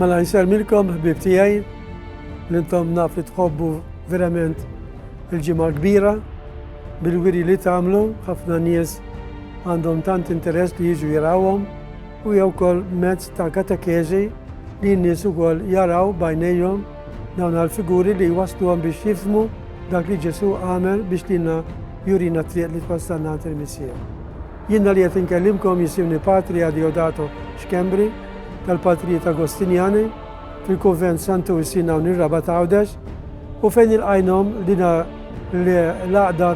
Mela nselmilkom ħbib tiegħi li intom naf li tħobbu verament il-ġimgħa kbira bil-wiri li tagħmlu ħafna nies għandhom tant interess li jiġu jirawhom U hija wkoll mezz ta' katekeżi li n-nies ukoll jaraw b'għajnejhom dawn għall-figuri li jwassluhom biex jifhmu dak li Ġesù għamel biex lilna jurina t-triq li twassalna għand il-Missier. Jiena li qed inkellimkom jisimni Patri Adeodato Schembri tal-Patrijiet Agostinjani fil-Kunvent Santu Wistin hawn ir-Rabat Għawdex u fejn ilqajnhom lina l-għaqda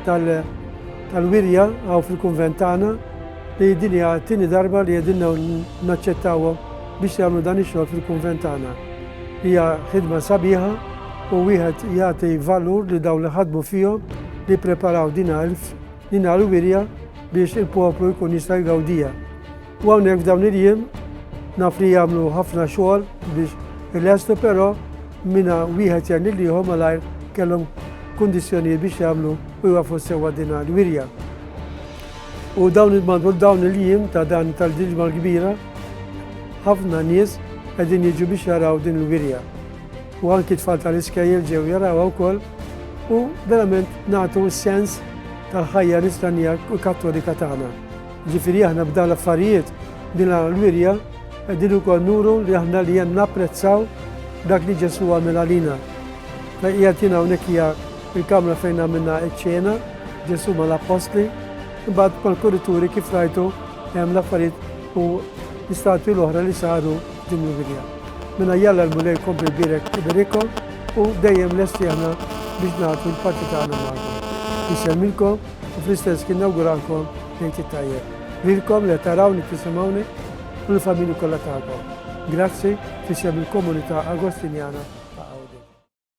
tal-wirja hawn fil-Kunvent tagħna li din hija t-tieni darba li qegħdin naċċettawhom biex jagħmlu dan ix-xogħol fil-kunvent tagħna. Hija ħidma sabiħa u wieħed jagħti valur lil dawn li ħadmu fihom li jippreparaw din għelf, din għall-wirja biex il-poplu jkun jista' jgawdija. U hawnhekk f'dawn il-jiem naf li jagħmlu ħafna xogħol biex il-estu però minna wieħed jgħin lil ieħor malajr kellhom kundizzjonijiet biex jagħmlu u jwafu sewa din għall-wirja. U dawn il-madur dawn il-jiem ta' dan tal-ġilġma l-kbira, ħafna nies qegħdin jiġu biex jaraw din il-wirja. U anki tfal tal-iskejjel ġew jarawha wkoll u verament nagħtu s-sens tal-ħajja nistannija u kattolika tagħna. Ġifieri aħna b'dan l-affarijiet din l-wirja qegħdin ukoll nuru li aħna li hemm napprezzaw dak li Ġesu għamel għalina. Fejn qiegħed jien hawnhekk hija Il-kamra fejn għamilna ċ-ċena, Ġesù mal-appostli, imbagħad mal-kurituri kif rajtu hemm l-affarijiet u l-istatwi l-oħra li saru ġim il-wirja. Minna jalla l-Mulej kompli jbierek iberikom u dejjem lesti aħna biex nagħtu l-parti tagħna magħkom. Insemmilkom u fl-istess kien nawguralkom lejt it-tajjeb. Lilkom li tarawni tisimgħuni u l-familji kollha tagħkom. Grazzi f'isem il-komunità Agostinjana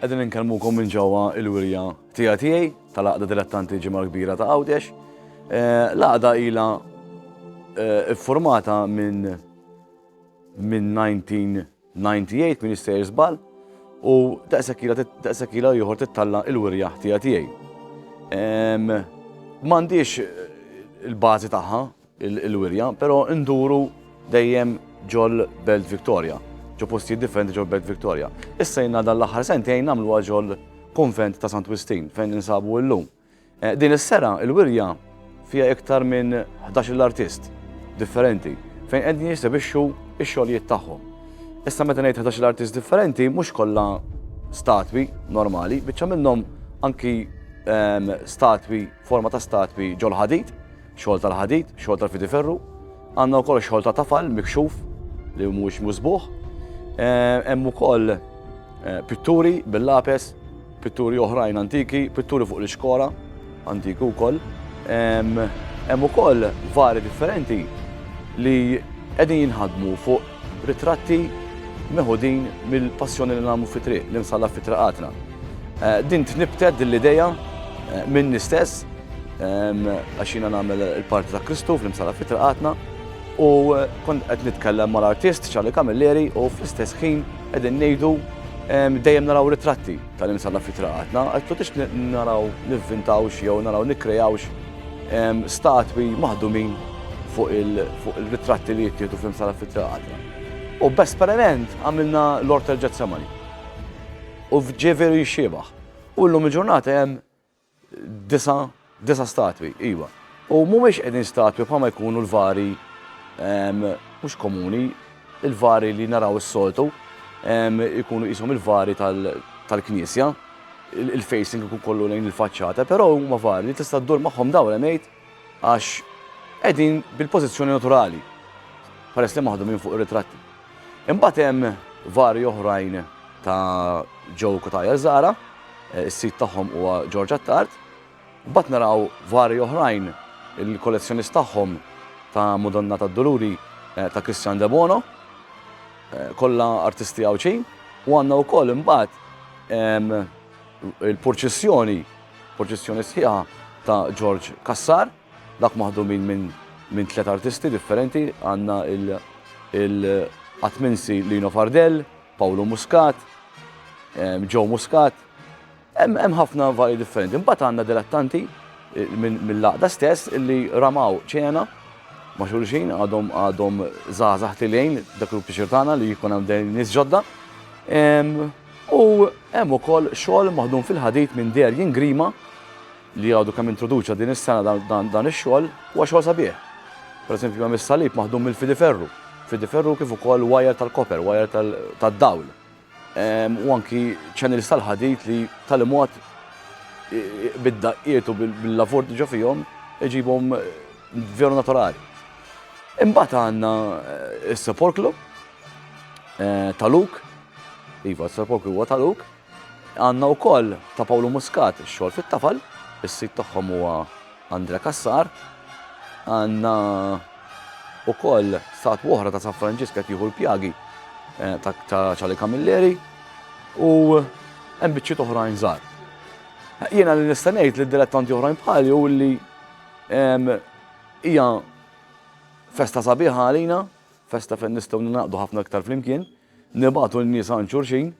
Qegħdin inkellmukom minn ġewwa l-wirja tiegħi tiegħi tal-Għaqda Dilettanti Ġimgħa Kbira ta' Għawdex. L-għaqda ilha ffurmata minn minn 1998 minn jistejjer żball u daqshekk ilha daqshekk ilha ieħor tittalla' l-wirja tiegħi tiegħi. M'għandix il-bażi tagħha, il-wirja, però nduru dejjem ġol Belt Victoria, ġo postijiet differenti ġol Belt Victoria. Issa jina dan l-aħħar sentejn nagħmluha ġol Konvent ta' Sant Wistin fejn ninsabu illum. Eh, din is-sera il-wirja fija iktar minn 11 l-artist differenti fejn qegħdin jisebixxu x-xogħlijiet tagħhom. Issa meta ngħid 11 l-artist differenti mhux kollha statwi normali, biċċa minnhom anki ehm, statwi, forma ta' statwi ġol ħadid, Xogħol tal-ħadid, xogħol tal-fidi ferru. Għandna wkoll xogħol ta' tafal mikxuf li mhuwiex musbuħ. Eh, hemm ukoll eh, pitturi bil-lapes, pitturi oħrajn antiki, pitturi fuq l-iskora antiki wkoll. Hemm ukoll vari differenti li qegħdin jinħadmu fuq ritratti meħudin mill-passjoni li nagħmlu fitri, li nsalla fitraqatna. Eh, din tnibtet din l-ideja eh, minn istess Għax jiena nagħmel il-parti ta' Kristu fl-imsala fitra qatna u kont qed nitkellem mal-artist Charlie Camilleri u fl-istess ħin qegħdin ngħidu dejjem naraw ritratti tal-imsala fitra qatna, qed tix naraw nivvintawx jew naraw nikkreawx statwi maħdumin fuq il-ritratti li jittieħdu fl-imsala fitra qatna. U b'esperiment għamilna l-Ortel Ġetsemani. U ġie veru jixxiebaħ. U llum il-ġurnata hemm Disa', disa' statwi, iva. U mhumiex qegħdin statwi bħalma jkunu l-vari mhux komuni, il-vari li naraw is-soltu, jkunu qishom il-vari tal-knisja, il-facing ikun kollu lejn il-faċċata, però huma vari li tista' ddur magħhom dawl hemm għid. Għax qegħdin bil-pożizzjoni naturali, peress li maħdumin fuq ir-ritratti. Imbagħad hemm varji oħrajn ta' Joe Cutajar Zahra, eh, is-sid tagħhom huwa George Attard. Imbagħad naraw varji oħrajn il-kollezzjonist tagħhom ta' Madonna tad-Duluri eh, ta' Christian De Bono, eh, kollha artisti Għawdxin, u għandna wkoll imbagħad ehm, il-purċissjoni Proċessjoni sħiħa ta' Ġorġ Cassar, dak maħdumin minn minn tliet artisti differenti, għandna il-Qatminsi Lino Fardell, Pawlu Muscat, Joe ehm, Muscat, hemm ħafna vari differenti. Imbagħad għandna dilettanti eh, mill-laqda stess illi ramaw ċena ma' xulxin għadhom għadhom żgħażagħ tilejn dak il-pixir tagħna li jkun hemm dejn nies ġodda. Ehm, U hemm ukoll xogħol maħdum fil-ħadid minn Darien Grima li għadu kemm introduċa din is-sena dan ix-xogħol huwa xogħol sabiħ. Pereżempju hemm is-salib maħdum mill-fidiferru, fidiferru kif ukoll wajer tal-koper, wajer tad-dawl. Ehm, u anki ċenils tal-ħadid li tal-imod bid-daqqiet u bil-lavur ġo fihom iġibhom eh, veru naturali. Imbagħad għandna eh, s-sepolklu eh, ta' Luk Iva, Sir Paul Kriwa ta' Luk. Għanna u koll ta' Pawlu Muscat, xol fit-tafal, il-sit tagħhom huwa Andre Kassar. Għanna u koll sat woħra ta' San Franġiska tiħu l-pjagi eh, ta' ċali Kamilleri u hemm biċċiet oħrajn żgħar. Jiena li nista' ngħid li dilettanti oħrajn bħali u li hija festa sabiħa għalina, festa fejn nistgħu naqdu ħafna iktar flimkien. Nibagħtu n-nies għand xulxin,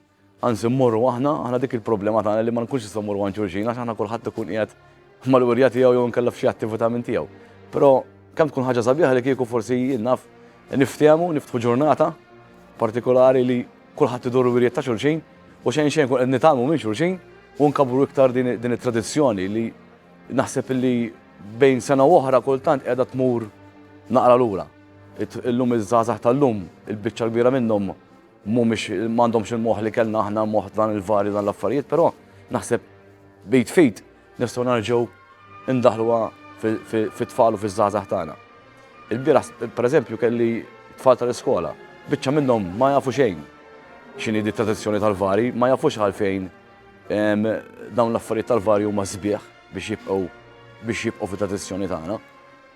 anzi mmorru aħna, aħna dik il-problema tagħna li ma nkunx nistgħu mmorru għand xulxin għax aħna kulħadd ikun qiegħed mal-wirja tiegħu jew inkella f'xi attività minn tiegħu. Però kemm tkun ħaġa sabiħa li kieku forsi jien naf niftehmu, niftħu ġurnata partikolari li kulħadd idur wirjiet ta' xulxin u xejn xejn kun qed nitgħalmu minn xulxin u nkabru iktar din it-tradizzjoni li naħseb li bejn sena u oħra kultant qiegħda tmur naqra lura. Illum iż-żgħażagħ tal-lum, il-biċċa l-kbira minnhom mhumiex m'għandhomx il-moħħ li kellna aħna moħħ dan il-vari dan l-affarijiet, però naħseb bit fit nistgħu narġgħu ndaħluha fit-tfal u fiż-żgħażagħ tagħna. Il-bieraħ, pereżempju, kelli tfal tal-iskola, biċċa minnhom ma jafu xejn x'inhi di tradizzjoni tal-vari, ma jafux għalfejn dawn l-affarijiet tal-vari huma sbieħ biex jibqgħu biex jibqgħu fit-tradizzjoni tagħna.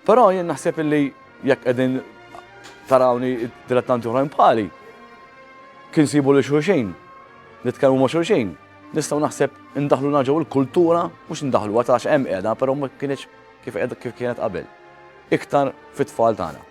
Però jien naħseb illi jekk qegħdin tarawni dilettanti oħrajn bħali, kien sibu li xulxin, nitkellmu ma' xulxin, nistgħu naħseb indaħlu naġaw il-kultura, mhux indaħlu għatax hemm qiegħda, però ma kienx kif kienet qabel. Iktar fit-tfal tagħna.